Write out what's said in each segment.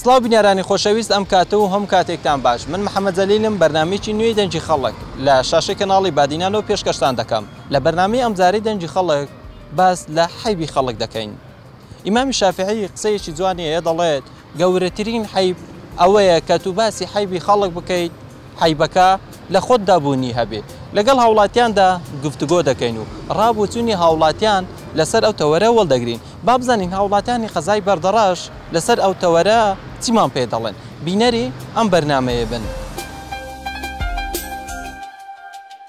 سڵاو بینەرانی خۆشەویست ئەم کاتە و هەموو کاتێکتان باش من محمد جەلیلم بەرنامەیەکی نوێی دەنگی خەڵک لە شاشەی کەناڵی بادینانەوە پێشکەشتان دەکەم لە بەرنامەی ئەمجارەی دەنگی خەڵک باس لە حەیبی خەڵک دەکەین ئیمامی شافعی قسەیەکی جوانی هەیە دەڵێت گەورەترین حەیب ئەوەیە کە تو باسی حەیبی خەڵک بکەیت عەیبەکە لە خۆتدا بوونی هەبێ. لەگەڵ هاوڵاتیاندا گفتوگۆ دەکەین و ڕابوچوونی هاوڵاتیان لەسەر ئەو تەوەرە وەڵدەگرین. با بزانین هاوڵاتیانی قەزای بەردەڕەش لەسەر ئەو تەوەرە چیمان پێ دەڵێن. بینەری ئەم بەرنامەیە بن.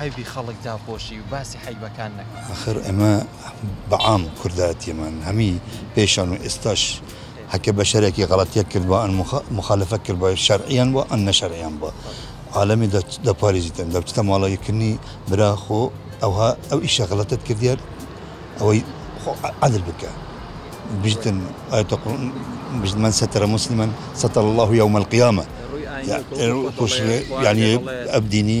حەیبی خەڵک داپۆشی و باسی حەیبەکان نەکەی. ئاخر ئێمە بە عام کوردایەتیمان هەمی پێشان و ئێستاش هەکە بەشەرێکی غەڵەتیەک کردبا ئەن موخالەفەت کردبا شەرعیان بوا ئەن نەشەرعیان بوا عالەمی دەپاریزیتن دەبچتە ماڵەی کردنی برا خۆ ئەوها ئەو ئیشە غەڵەتت کردیار ئەوەی خۆ عەدل بکە بژتن ئایەتە قوڕن بژت من ستر مسلما ستر الله یوم القیامە ڕووی ئاینی و کۆڵ بە خۆڵەیەک خوارەیەک یعنی ئەبدینی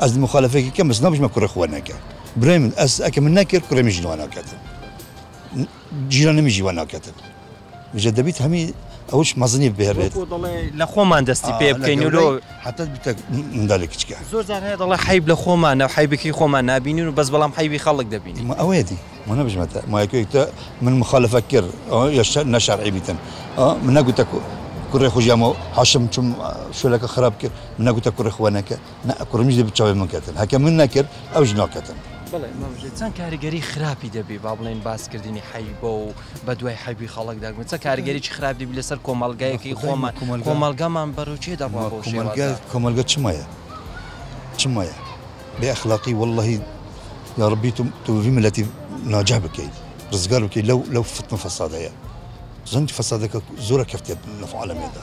ئەز موخالەفەکی کەم بەس نابژمە کوڕێ خوا نەکا برای من ئەز ئەکە من نەکرد کوڕێ میژن وا ناکاتن جیرانە میژی وا ناکاتن وجە دەبیت هەمی ئەوش مەزنی بهێنێت وەکو دەڵێ لە خۆمان دەستی پێ بکەین و لۆ حتی بتە مندالی کچکە زۆر جار هەیە دەڵێ حیب لە خۆمانە و حیبێکی خۆمان نابینین و بەس بەڵام حیبی خەڵک دەبینین ما ئەوەیە دی ما نەبژمەتە ما یەکێک تە من مخالفە کرد ئەوە یا شەر نە شەرعی بیتن ئا من نەگوتە کو کوڕێ خوژیامەوە حاشم چوم شولەکە خراپ کرد من نەگوتە کوڕێ خوا نەکە نە ئەکڕم ژی بچەوەی من کەتن هەکە من نەکرد ئەو ژنۆ کەتن. بەڵێ مام ژیر چەند کاریگەری خراپی دەبی با بڵێن باس کردنی حەیبە و بە دوای حەیبی خەڵک دەگمە چە کاریگەریی خراپ دەبی لەسەر کۆمەڵگایەکی خۆمان کۆمەلگامان بەرەو چێ دەڕوا بۆ شێوازە کۆمەلگە چمەیە چمەیە بێ ئەخلاقی واللهی یا ربی تو تو وی ملتی ناجح بکی رزگار بکی لو لو فتنە فساد هەیە زۆن فسادەکە زۆرە کەفتێت لە عالەمێدا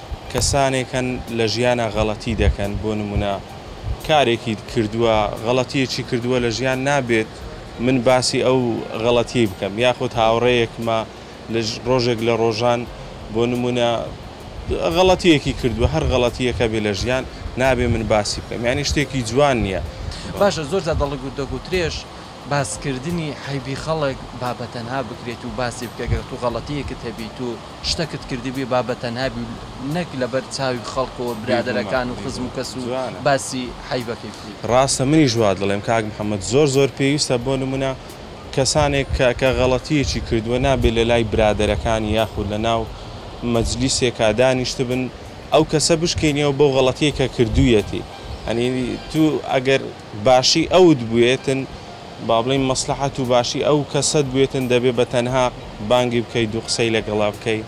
کەسانێک هەن لە ژیانا غەڵەتی دەکەن بۆ نمونە کارێکی کردوە غەڵەتیەکی کردوە لە ژیان نابێت من باسی ئەو غەڵەتیەی بکەم یاخود هاوڕێیەکمە لە ڕۆژێک لە ڕۆژان بۆ نمونە غەڵەتیەکی کردوە هەر غەڵەتیەکە بێ لە ژیان نابێ من باسی بکەم یانی شتێکی جوان نیە. باشە زۆر جار دەڵگوت دەگوترێش باسکردنی عەیبی خەڵک با بەتەنها بکرێت و باسی بکە گەر تو غەڵەتیەکت هەبیت و. شتەکت کردبێ با بەتەنها بی و نەک لەبەر چاوی خەڵکەوە برادەرەکان و خزم و کەس و باسی حەیبەکەی بکەی. ڕاستە منیش وا دەڵێم کاک محمد زۆر زۆر پێویستە بۆ نمونە کەسانێک کە کە غەڵەتیەکی کردوە نابێ لەلای برادەرەکانی یاخود لەناو مەجلیسێکا دانیشتبن ئەو کەسە بشکێنیەوە بەو غەڵەتیەی کە کردویەتی یانی تو ئەگەر باشی ئەوت بوێتن با بڵێین مەسلەحەت و باشی ئەو کەسەت بوێتن دەبێ بە تەنها بانگی بکەی دوو قسەی لەگەڵا بکەی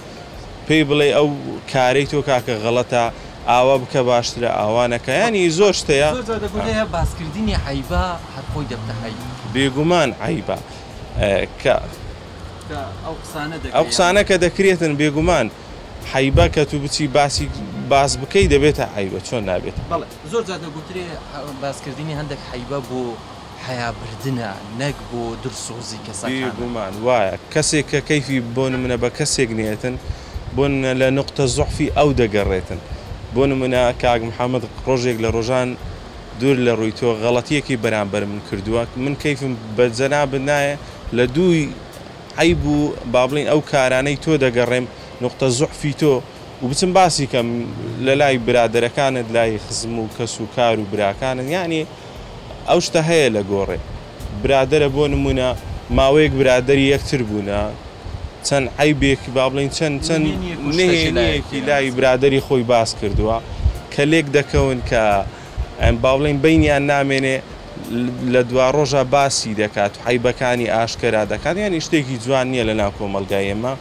پێی بڵێی ئەو کارەی تۆ کاکە غەڵەتە ئاوا بکە باشترە ئاوا نەکە یانی زۆر شتە یە. زۆر جار دەگوترێ هە باس کردنی عەیبە هەر خۆی دەبتە عەیب. بێگومان عەیبە کە ئەو قسانە کە دەکرێتن بێگومان حەیبە کە تو بچی باسی باس بکەی دەبێتە عەیبە چۆن نابێتە. زۆر جار دەگوترێ باسکردنی هەندێک حەیبە بۆ حەیا بردنە نەک بۆ دلسۆزی کەسەکانە. بێ گومان وایە. کەسێک کە کەیفی بۆ نمونە بە کەسێک نێتن بۆ نمونە لە نوقتە زوعفی ئەو دەگەڕێتن. بۆ نمونە کاک محمد ڕۆژێک لە ڕۆژان دور لە ڕوی تۆ غەڵەتیەکی بەرامبەر من کردوە من کەیفم بە جەنابت نایە لە دوی عەیب و با بڵێین ئەو کارانەی تۆ دەگەڕێم نوقتە زوعفی تۆ و بچم باسی کەم لە لای برادەرەکانت لای خزم و کەس و کار و براکانت یانی ئەو شتە هەیە لە گۆڕێ برادەرە بۆ نمونە ماوەیەک برادەری یەکتر بوونە چەند عەیبێک با بڵێین چەند چەند نهێنیەکی لای برادەری خۆی باس کردووە کە لێک دەکەون کە ئەم با بڵێین بینیان نامێنێ لە دوا ڕۆژە باسی دەکات و عیبەکانی ئاشکەرا دەکات یانی شتێکی جوان نییە لە ناو کۆمەلگای ئێمە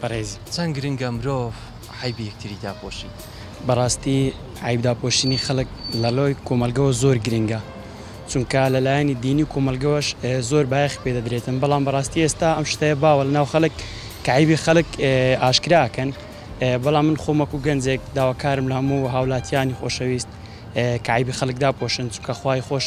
بەڕێزی. چەند گرنگە مرۆڤ عەیبی یەکتری داپۆشی. بەڕاستی عەیب داپۆشینی خەڵک لەڕێی کۆمەڵگەوە زۆر گرنگە چونکە لەلایەنی دینی و کۆمەڵگەوەش زۆر بایەخی پێ دەدرێتن بەڵام بەڕاستی ئێستا ئەم شتەیە باوە لەناو خەڵک کە عەیبی خەڵک ئاشکرا ئەکەن بەڵام من خۆم وەکو گەنجێک داواکارم لە هەموو هاوڵاتیانی خۆشەویست کە عەیبی خەڵک داپۆشن چونکە خوای خۆش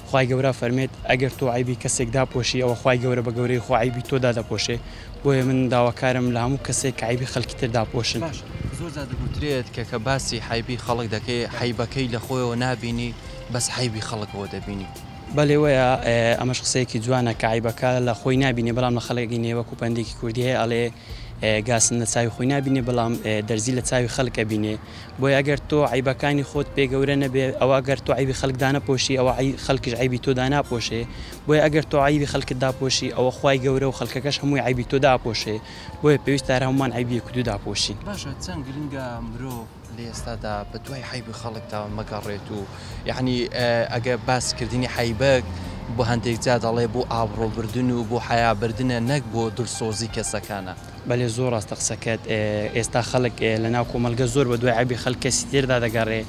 خوای گەورە فەرمێت ئەگەر تۆ عەیبی کەسێک داپۆشی ئەوە خوای گەورە بە گەورەی خۆ عەیبی تۆ دادەپۆشێ بۆیە من داواکارم لە هەموو کەسێک کە عەیبی خەلکی تر داپۆشن. باشە زۆر جار دەگوترێت کە کە باسی حەیبی خەڵک دەکەی حەیبەکەی لە خۆیەوە نابینی بەس حەیبی خەڵکەوە دەبینی. بەلی وەیە ئەمەش قسەیەکی جوانە کە عەیبەکە لە خۆی نابینێ بەڵام لە خەڵک ئەبینێ وەکو پەندێکی کوردی هەیە ئەڵێ گاسن لە چاوی خۆی نابینێ بەڵام دەرزی لە چاوی خەلک ئەبینێ بۆیە گەر تۆ عەیبەکانی خۆت پێ گەورە نەبێ ئەوا گەر تۆ عەیبی خەلک دانەپۆشی ئەوا خەلکیش عەیبی تۆ داناپۆشێ بۆیە ئەگەر تۆ عەیبی خەلکت داپۆشی ئەوە خوای گەورە و خەلکەکەش هەمووی عەیبی تۆ داپۆشێ بۆیە پێویستە هەر هەموومان عەیبی یەکدوو داپۆشین. باشە چەند گرنگە مرۆڤ لە ئێستادا بە دوای عەیبی خەڵکدا مەگەڕێت و یەعنی ئەگەر باس کردنی عەیبەک بۆ هەندێک جار دەڵێ بۆ ئابڕۆ بردن و بۆ حەیا بردنە نەک بۆ دلسۆزی کەسەکانە. بەلێ زۆر راستە قسەکەت ئێستا خەلک لە ناو کۆمەلگە زۆر بە دوای عەیبی خەلک کەسی تردا دەگەڕێ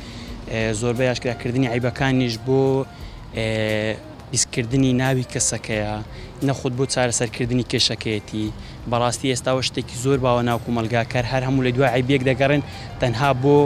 زۆربەی ئاشکرا کردنی عەیبەکانیش بۆ. پیسکردنی ناوی کەسەکەیە نەخود بۆ چارەسەر کردنی کێشەکەیەتی بەڕاستی ئێستا وە شتێکی زۆر باوە ناو کومەلگا کەر هەر هەموو لە دوای عەیبیەک دەگەڕێن تەنها بۆ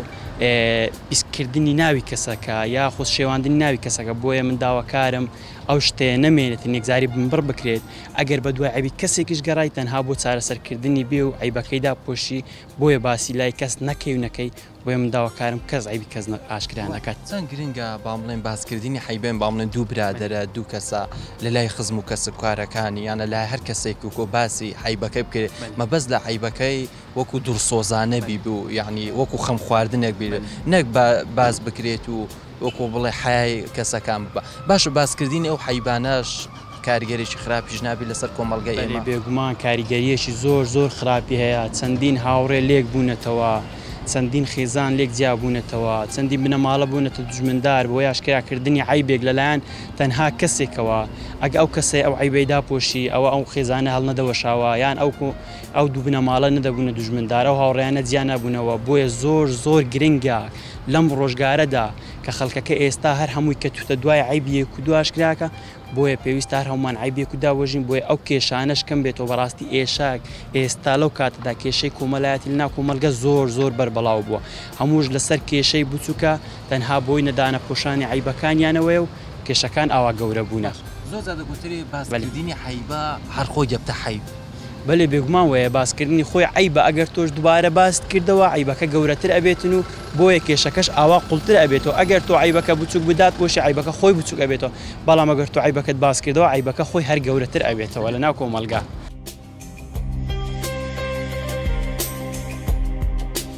پیسکردنی ناوی کەسەکە یاخود شێواندنی ناوی کەسەکە بۆیە من داواکارم ئەو شتەیە نەمێنێت نێکجاری بنبڕ بکرێت ئەگەر بە دوای عەیبی کەسێکیش گەڕای تەنها بۆ چارەسەرکردنی بێ و عەیبەکەی داپۆشی بۆیە باسی لای کەس نەکەی و نەکەی بۆیە من داواکارم کەس عەیبی کەس ئاشکرا نەکات. چەند گرنگە با بڵێین باسکردنی حەیبەین با بڵێین دوو برادەرە دوو کەسە لە لای خزم و کەسب کارەکانی یان لە لای هەر کەسێک و کۆ باسی حەیبەکەی بکرێت مەبەست لە عەیبەکەی وەکو دڵسۆزانە بیبو یانی وەکو خەم خواردنێک بێت نەک با باس بکرێت و وەکو بڵێ حەیای کەسەکان ببە. باشە باسکردنی ئەو حەیبانەش کاریگەریی خراپیش نابێت لەسەر کۆمەڵگای ئێمە؟ بەلی بێگومان کاریگەریەکی زۆر زۆر خراپی هەیە، چەندین هاوڕێ لێک بوونەتەوە، چەندین خێزان لێک جیا بوونەتەوە، چەندین بنەماڵە بوونەتە دوژمندار بۆ ئاشکرا کردنی عەیبێک لەلایەن تەنها کەسێکەوە، ئەگە ئەو کەسەی ئەو عەیبەی داپۆشی ئەوە ئەو خێزانە هەڵنەدەوەشاوە یان ئەو ئەو دوو بنەماڵە نەدەبوونە دوژمندار ئەو هاوڕێیانە جیا نەبوونەوە بۆیە زۆر زۆر گرنگە. لەم ڕۆژگارەدا کە خەڵکەکە ئێستا هەر هەمووی کەتوتە دوای عەیبی یەک و دوو ئاشکراکە بۆیە پێویستە هەر هەموومان عەیبی یەک و دابوەژین بۆیە ئەو کێشانەش کەم بێتەوە بەڕاستی ئێشاک ئێستا لەو کاتەدا کێشەی کۆمەلایەتی لەناو کۆمەلگە زۆر زۆر بەربەڵاو بووە هەمووش لەسەر کێشەی بوچوکە تەنها بۆی نەدانە پۆشانی عەیبەکانیانەوەیە و کێشەکان ئاوا گەورە بوونە. باش زۆر جار دەگوترێ باس کردنی عەیبە هەر خۆی دەبتە حەیب. بەلی بێگومان وەیە باسکردنی خۆی عەیبە ئەگەر تۆش دوبارە باست کردەوە عەیبەکە گەورەتر ئەبێتن و بۆیە کێشەکەش ئاوا قوڵتر ئەبێتەوە ئەگەر تۆ عەیبەکە بچوک بدات بۆشی عەیبەکە خۆی بچوک ئەبێتەوە بەڵام ئەگەر تۆ عەیبەکەت باست کردەوە عەیبەکە خۆی هەر گەورەتر ئەبێتەوە لە ناو کۆمەڵگا.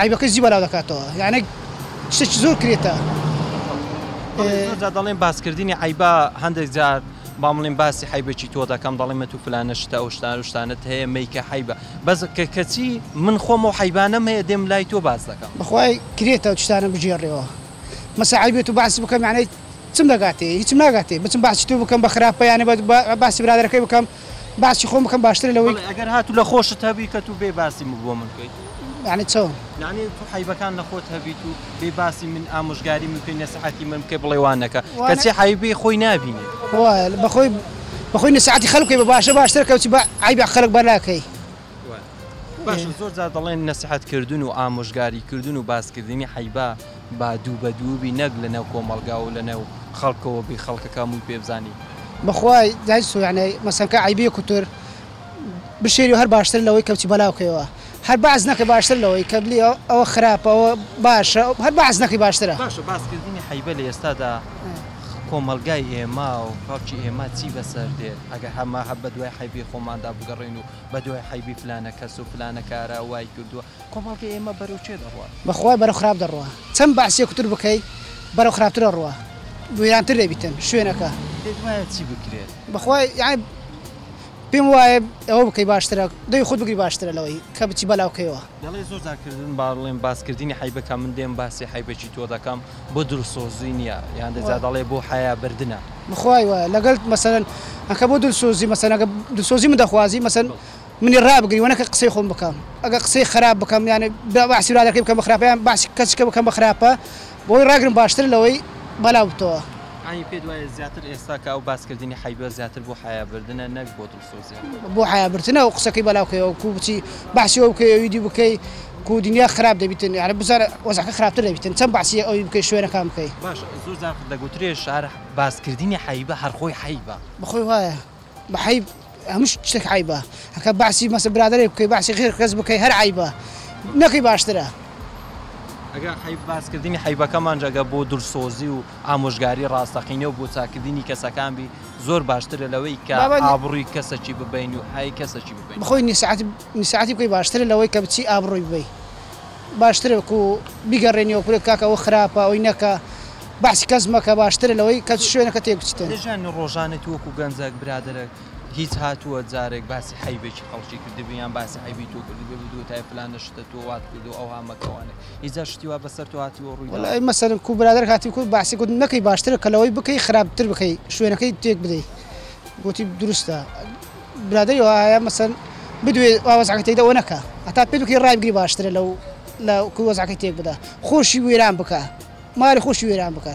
عەیبەکەی جی بەلاو دەکاتەوە یانێ شتێکی زۆر کرێتە. بەڵێ زۆر جار دەڵێن باسکردنی عەیبە هەندێک جار با بڵێن باسی حەیبێکی تۆ دەکەم دەڵێم ئەتوو فلانە شتە ئەو شتان و شتانت هەیە مەیکە حەیبە بەس کە کەچی من خۆم و حەیبانەم هەیە دێم لای تۆ باس دەکەم. بەخوای کرێتە ئەو شتانە بگێڕێەوە مەسە عەیبێ تۆ باسی بکەم یانێ چم دەگاتێ هیچم ناگاتێ بچم باسی تۆ بکەم بە خراپە یانێ باسی برادەرەکەی بکەم باسی خۆم بکەم باشترە لەوەی. بەڵێ ئەگەر هاتوو لە خۆشت هەبیکەت و بێ باسی من بۆ من کەیت. یانی چۆن؟ یانی تو حەیبەکان لە خۆت هەبیت و بێ باسی من ئامۆژگاری من بکەی نەسیحەتی من بکەی بڵێ وا نەکە کەچی حەیبی خۆی نابینێ. وایە بەخۆی بەخۆی نەسیحەتی خەلک بکەی بە باشە باشترە کەچی بە عەیبی خەلک بەر ناکەی. باشە زۆر جار دەڵێن نەسیحەت کردن و ئامۆژگاری کردن و باسکردنی حەیبا با دوو بە دووبی نەک لە نێو کۆمەڵگا و لە نێو خەڵکەوە بی خەڵکەکە هەمووی پێ بزانی. بەخوای دای سووتێ مەسەنکە عەیبیە کوتر بشێری و هەر باشترە لەوەی کە بچی بەلاو کەیەوە هەر بەعس نەکەی باشترە لەوەی کە بلی ئەوە خراپە ئەوە باشە هەر بەعس نەکەی باشترە. باشە باسکردنی حەیبە لە ئێستادا کۆمەڵگای ئێمە و خەڵکی ئێمە چی بەسەر دێت ئەگەر هەمە هەر بەدوای حەیبی خۆماندا بگەڕێین و بەدوای حەیبی فلانە کەس و فلانە کارە وای کردووە، کۆمەڵگەی ئێمە بەرەو چێ دەڕوات؟ بەخوای بەرەو خراپ دەڕوا چەند بەعسیەکوتر بکەی بەرەو خراپتر ئەڕوا ویرانتر دەبیتن شوێنەکە. پێت وایە چی بکرێت؟ بەخوای یەعنی پێم وایە ئەوە بکەی باشترە دەوی خۆت بگری باشترە لەوەی کە بچی بەلاوکەیەوە. دەڵێ زۆر جار کردن با ڵێم باس کردنی حەیبە کە من دێم باسی حەیبەکی تۆ دەکەم بۆ دلسۆزی نیە یان دەجا دەڵێ بۆ حەیا بردنە. بخوای وایە لەگەلت مەسەلەن ئەکە بۆ دلسۆزی مەسەلەن ئەگە دلسۆزی من دەخوازی مەسەلەن منی رابگری وە نەکە قسەی خۆم بکەم ئەگە قسەی خەراپ بکەم یانێ باسی برادەرەکەی بکەم بە خراپە یان باسی کەسیکە بکەم بە خراپە بۆی راگرم باشترە لەوەی بەلاو بتەوە. ئانی پێت وایە زیاتر ئێستا کە ئەو باس کردنی حەیبە زیاتر بۆ حەیا بردنە نەک بۆ دڵ. بۆ حەیا برتنە ئەو قسەکەی بەلاو کەی ئەو کو بچی بەحسی ئەو بکەی ئەویدی بکەی کو دنیا خراپ دەبیتن یاعرب بزانە وەزعەکە خراپتر دەبیتن چەن بەحسی ئەوی بکەی شوێنەکان بکەی. باشە زۆر جار دەگوترێ شار باس کردنی حەیبە هەر خۆی حەیبە. بەخۆی وایە بە حەیب هەموو شتێک حەیبە هەکە بەحسی مەسە برادەرێک بکەی بەحسی غیر کەس بکەی هەر عەیبە نەکەی باشترە. ئەگە حەیب باس کردنی حەیبەکەمانژ ئەگە بۆ دلسۆزی و ئامۆژگاری ڕاستەقینە و بۆ چاککردنی کەسەکان بی زۆر باشترە لەوەی کە ئابڕووی کەسەکی ببەین و هەی کەسەکی ببەین. بخۆی نی ساعەت نی ساعەتی بکەی باشترە لەوەی کە بچی ئابڕووی ببەی باشترە وەکو بیگەڕێنی وەکو بڵێ کاکە ئەوە خراپە ئەوەی نەکە بەعسی کەس مەکە باشترە لەوەی کە شوێنەکە تێک بچیتن. لە ژیانی ڕۆژانە تو وەکو گەنجەک برادەرەک هیچ هاتووە جارێک باسی حەیبێکی خەڵکی کردبی یان باسی عەیبی تۆ کردبێ بتگوتایە فلانە شتە تۆ وات کردووە ئەوها مەکە وانەکە. ئیجا شتی وا بەسەر تۆ هاتیوە و ڕوویداوە؟ وەلای مەسەلم کو برادەر هاتی کو بەعسی گوت نەکەی باشترە کە لەوەی بکەی خراپتر بکەی شوێنەکەی تێک بدەی گوتی دروستە برادەری وا هەیە مەسەن بدوێ وا وەزعەکە تێک دەوە نەکە هەتا پێت بکەی ڕای بگری باشترە لەو لە کو وەزعەکەی تێک بدە خۆشی وێران بکە مالی خۆشی وێران بکە.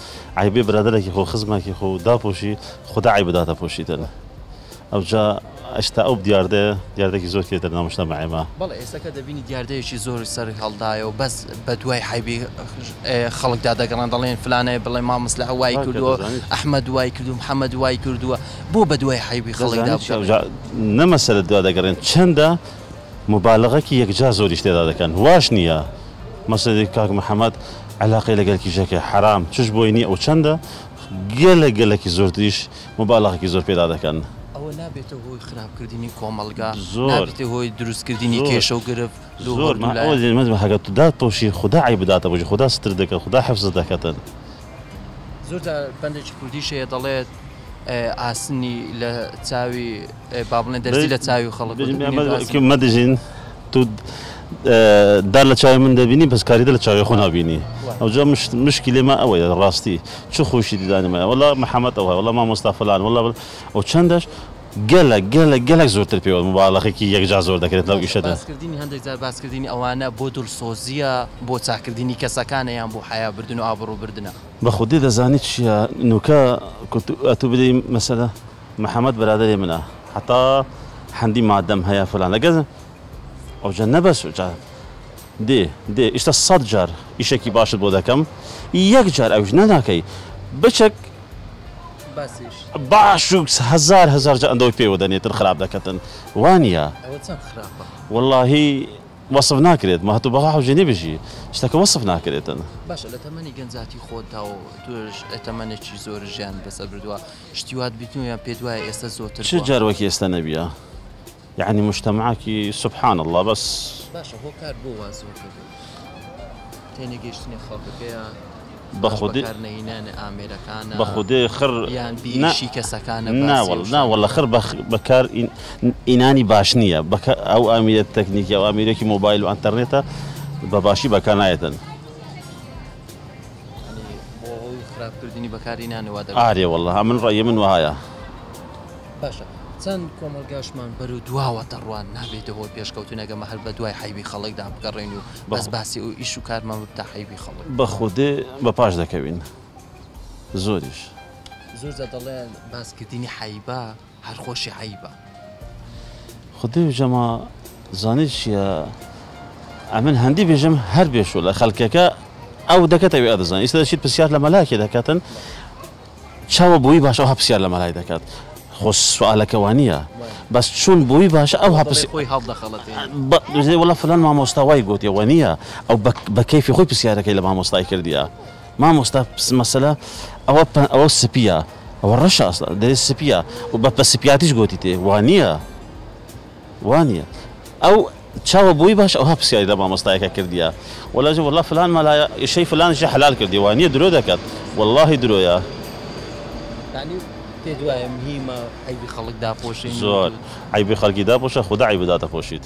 عەیبێ برادەرەکی خۆو خزمەکی خۆو داپۆشی خودا عەیب بداتە پۆشیتن ئەوجا ئەشتا ئەو دیاردەیە دیاردەکی زۆر کێتە ناو مشتەمەعێما. بەڵێ ئێستاکە دەبینی دیاردەیەکی زۆر سەری هەڵدایە و بەس بە دوای عەیبی خەڵکدا دەگەڕێن دەڵێن فلانێ بڵێ مامۆستا وای کردووە ئەحمەد وای کردووە محەمەد وای کردووە بۆ بە دوای عەیبی خەڵکدا بگەڕێن. نە مەسەلە دوا دەگەڕێن چەندە موبالغەکی یەکجار زۆریش تێدا دەکەن واش نیە مەسەدی کاک محمد عەلاقەی لەگەل کیژەکە حەرام چش بۆی نیە و چەندە گەلەک گەلەکی زۆرتریش موبالغەکی زۆر پێدا دەکەن. ئەوە نابێتە هۆی خراپ کردنی کۆمەڵگا زۆر نابێتە هۆی دروست کردنی زۆر کێشە و گرفت لۆ زۆر هەردوو من ئەوە لایەن. دەیمەزم هەگە تو دات پۆشی خودا عەیب داتە پۆشی خودا سترت دەکەت خودا حفزت دەکەتن. زۆر جار بەندێکی کوردیش هەیە دەڵێت ئاسنی لە چاوی. با بڵێن دەرزی لە چاوی خەڵک بێژن بێژن بێژن بێژن بێژن مەدژین تو دار لە چاوی من دەبینی بەس کاریدە لە چاوی خۆ نابینی ئەوجا مشکلی ما ئەوەیە ڕاستی چ خۆشی دیدانی مایە وەڵا محمد ئەوە وەڵا مامۆستا فلان وەڵا بل و چەندەش گەلەک گەلەک گەلەک زۆرتر پێوە مباڵەخێکی یەکجار زۆر دەکرێت لەو ئیشەدا باشە باسکردنی هەندێک جار باسکردنی ئەوانە بۆ دڵسۆزییە بۆ چاککردنی کەسەکانە یان بۆ حەیا بردن و ئابڕوو بردنە؟ بەخودی دەزانی چیە نوکە ئەتوو بدەی مەسەلە. محمد برادەری منە حەتا حەندی مادەم هەیە فلان لەگەل ئەوجە نەبەس ئەوجە دێ دێ ئیشتە سەد جار ئیشەکی باشت بۆ دەکەم یەک جار ئەوش نەناکەی بچەک باسیش باش و هەزار هەزار جا ئەندەوەی پێوە دەنێتن خراپ دەکەتن وانە ئەوە چەند خراپە واللهی وەصف ناکرێت ما هەتو بەها حوجێنی بژی شتەکە وەصف ناکرێتن باشە لە تەمەنی گەنجاتی خۆتدا و توش تەمەنێکی زۆر ژیان بەسەر بردووە شتی وات بیتنوە یان پێت وایە ئێستا زۆرتر چ جار وەک ئێستا نەبیە یعنی مشتەماکی سبحان اللە بەس باشە هۆکار بۆ وا زۆرتر تێنەگەیشتنی خەڵکەکەیە بەخودی نینانە ئامێرەکانە بەخودێ خڕ یان بیشی کەسەکانە ناوەڵ ناوە لە خڕ بەکار ئینانی باش نییە بەکە ئەو ئامیرە تەکنیکی ئەو ئامیرێکی مۆبایل و ئەتەرنێتە بە باشی بەکانایەتن ئارێ وەڵا من ڕای من وایە. باشە چەند کۆمەڵگاشمان بەرو دواوە دەڕوات نابێتەوە پێشکەوتنەکە مە هەر بە دوای حەیبی خەڵکدا بگەڕێن و بەس باسی ئەو ئیش و کارمان ببتە حەیبی خەڵک. بە خودێ بە پاش دەکەوین زۆریش. زۆر جار دەڵێن باسکردنی حەیبە. هەر خۆشی عەیبە. خودی و جەما زانی چیە ئەمن هەندی بژم هەر بێشوولە خەلکەکە ئەو دەکەت ئەوی ئەدزان ئیستا دەشیت پسیار لە مەلاکی دەکەتن چاوە بووی باش ئەوها پسیار لە مەلای دەکات خۆ سوالەکە وانیە بەس چون بووی باش ئەو هەپسی خۆی هەڵدەخەڵەتێ وڵە فلان مامۆستا وای گوتێ وە نییە ئەو بە کەیفی خۆی پسیارەکەی لە مامۆستای کردیە مامۆستا مەسەلە ئەوە ئەوە سپیە ئەوە ڕەشە ئەسڵەن دەرێ سپیە و بە پە سپیاتیش گۆتی تێ وانییە وانییە ئەو چاوە بۆی باش ئەوها پرسیاری لە مامۆستایەکە کردیە وەلاژە وەڵا فلان مەلایە ئیشەی فلانیشی حەلال کردی وانییە درۆ دەکات وەڵاهی درۆیە یانی پێت وایە مهیمە عەیبی خەڵک داپۆشین؟ زۆر عەیبی خەڵکی داپۆشە خودا عەیبت داتەپۆشیت.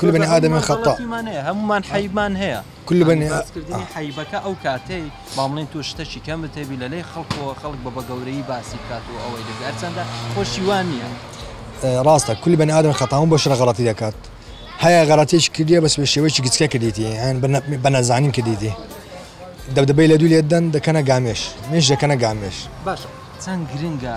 كل بني آدم خطاء هەمومان حیبمان هەیە كل بني آدم حیبەکە ئەو کاتەی بامڵین تۆ شتەکی کەمت هەبی لە لەی خەڵکەوە خەڵک بە بە گەورەی باسی بکات و ئەوەی دەبێت هەرچەندە خۆشی وان نییە ڕاستە كل بني آدم خطاء بۆ شرە غەڵەتی دەکات هەیە غەڵەتێکی کردیە بەس بە شێوەیەکی گچکە کردیتی یان بە نەزانین کردیتی دەبدەبەی لە دوو لێدەن دەکەنە گامێش مێش دەکەنە گامێش باشە چەند گرنگە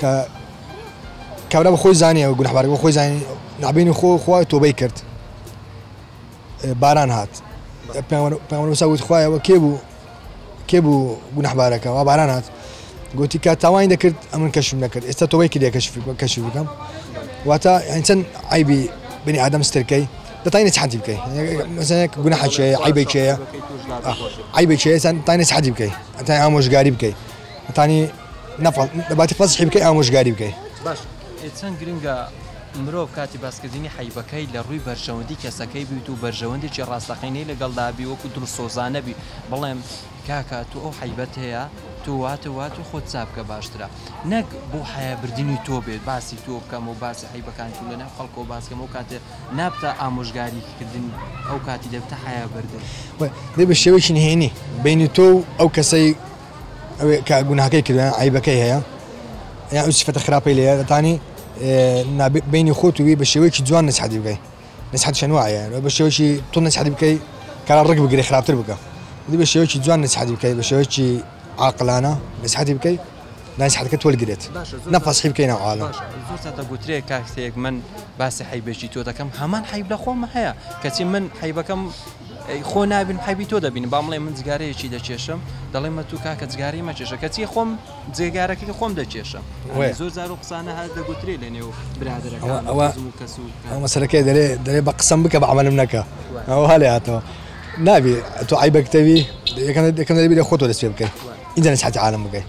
کە کابرا بە خۆی زانیە و گونحبارەکە بە خۆی زانین نابینی خۆ خوا تۆبەی کرد باران هات پێمەسا وت خوایەوە کێ بوو کێ بوو گونحبارەکەەوە باران هات گوتی کە تاوانی دەکرد ئەمن کەشم نەکرد ئێستا تۆبەی کردێ کەشف کەشی بکەم واتە ئەچەند ئایبی بنی ئادەم سترکەی دەتانی حەدی بکەی مەزانێک گونە حەچەیە عیبێکەیە عیبێکەیە تانی حەدی بکەی ئەتای ئامۆژگاری بکەی ئەتانی نەفەڵ لەباتی فەزحی بکەی ئامۆژگاری بکەی باش چەند گرنگە مرۆڤ کاتی باسکردنی حیبەکەی لە ڕووی بەرژەوەندی کەسەکەی بیت و بەرژەوەندێکی ڕاستەقینەی لەگەڵدابی وەکو دڵسۆزانەبی بڵێم کاکە تو ئەو حیبەت هەیە تو وات وات و خۆت چابکە باشترە نەک بۆ حیابردنی تۆ بێت باسی تۆ بکەم و باسی حیبەکان تو لەناو خەڵکەوە باسکەم و کاتێ نابتە ئامۆژگاریکردن ئەو کاتی دەبتە حیابردن بێ بە شێوەیەکی نهێنی بینی تۆ و ئەو کەسەی ئەوێ کە گوناهەکەی کردە عیبەکەی هەیە یا ئەو سفەتە خراپەی لێ دەتانی بینی خۆت وی بە شێوەیەکی جوان نسحەتی بکەی نسحەت چەند وایە بە شێوەی تۆ نسحەتی بکەی کار ڕگ بگرێ خراپتر بکە دی بە شێوەی جوان نسحەتی بکەی بە شێوەی عقلانە نسحەتی بکەی ناسحەتەکە تۆلگرێت نەپەسحی بکەین عاالە گوترێ کاکسەیەک من باسی حیبێکی تۆ دەکەم هەمان حیب لە خۆم هەیە کەچی من حیبەکەم خۆ نابینم حەیبی تۆ دەبینم با مڵێ من جگارەیەکی دەکێشم دەڵێ مە تو کاکە جگاری مەکێشە کەچی خۆم جێگارەکەی خۆم دەکێشم زۆر زار و قسانە هەر دەگوترێ لە نێو برادەکە کەس و مەسەرەکەی دەرێ دەرێ بە قسەم بکە بە عملم نەکە ئەو هەلێ هاتەوە نابی تۆ عیبەکتەوی یەکەم دەکەم دەبی لە خۆتۆ دەست پێ بکەیت ئینجا نسحەتی عالم بکەیت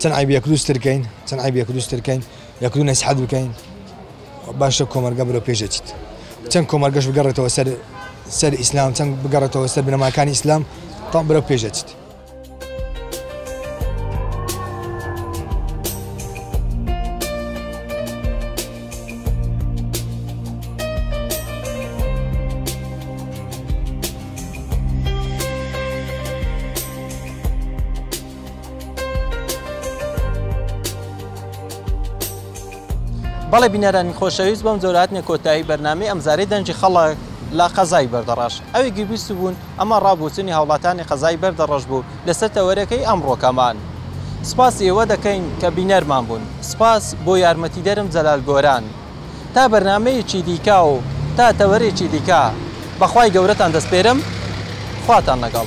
چەند عیب یەک روز تر کەین چەند عیب یەک روز تر کەین یەک روز نەسیحەت بکەین باشە کۆمەلگا بەرەو پێش ئەچیت چەند کۆمەلگەش بگەڕێتەوە سەر سەر ئیسلام چەند بگەڕێتەوە سەر بنەماکانی ئیسلام تام بەرەو پێش ئەچیت بەڵێ بینەرانی خۆشەویست بەم جۆرە هاتنە کۆتایی بەرنامەی ئەمجارەی دەنگی خەڵک لە قەزای بەردەڕەش ئەوی گوێبیست بوون ئەمە ڕابوچنی هاوڵاتانی قەزای بەردەڕەش بوو لەسەر تەوەرەکەی ئەمڕۆکەمان سپاسی ئێوە دەکەین کە بینەرمان بوون سپاس بۆ یارمەتیدەرم جەلال گۆران تا بەرنمەیەکی دیکە و تا تەوەرێکی دیکە بەخوای گەورەتان دەستپێرم خواتان لەگەڵ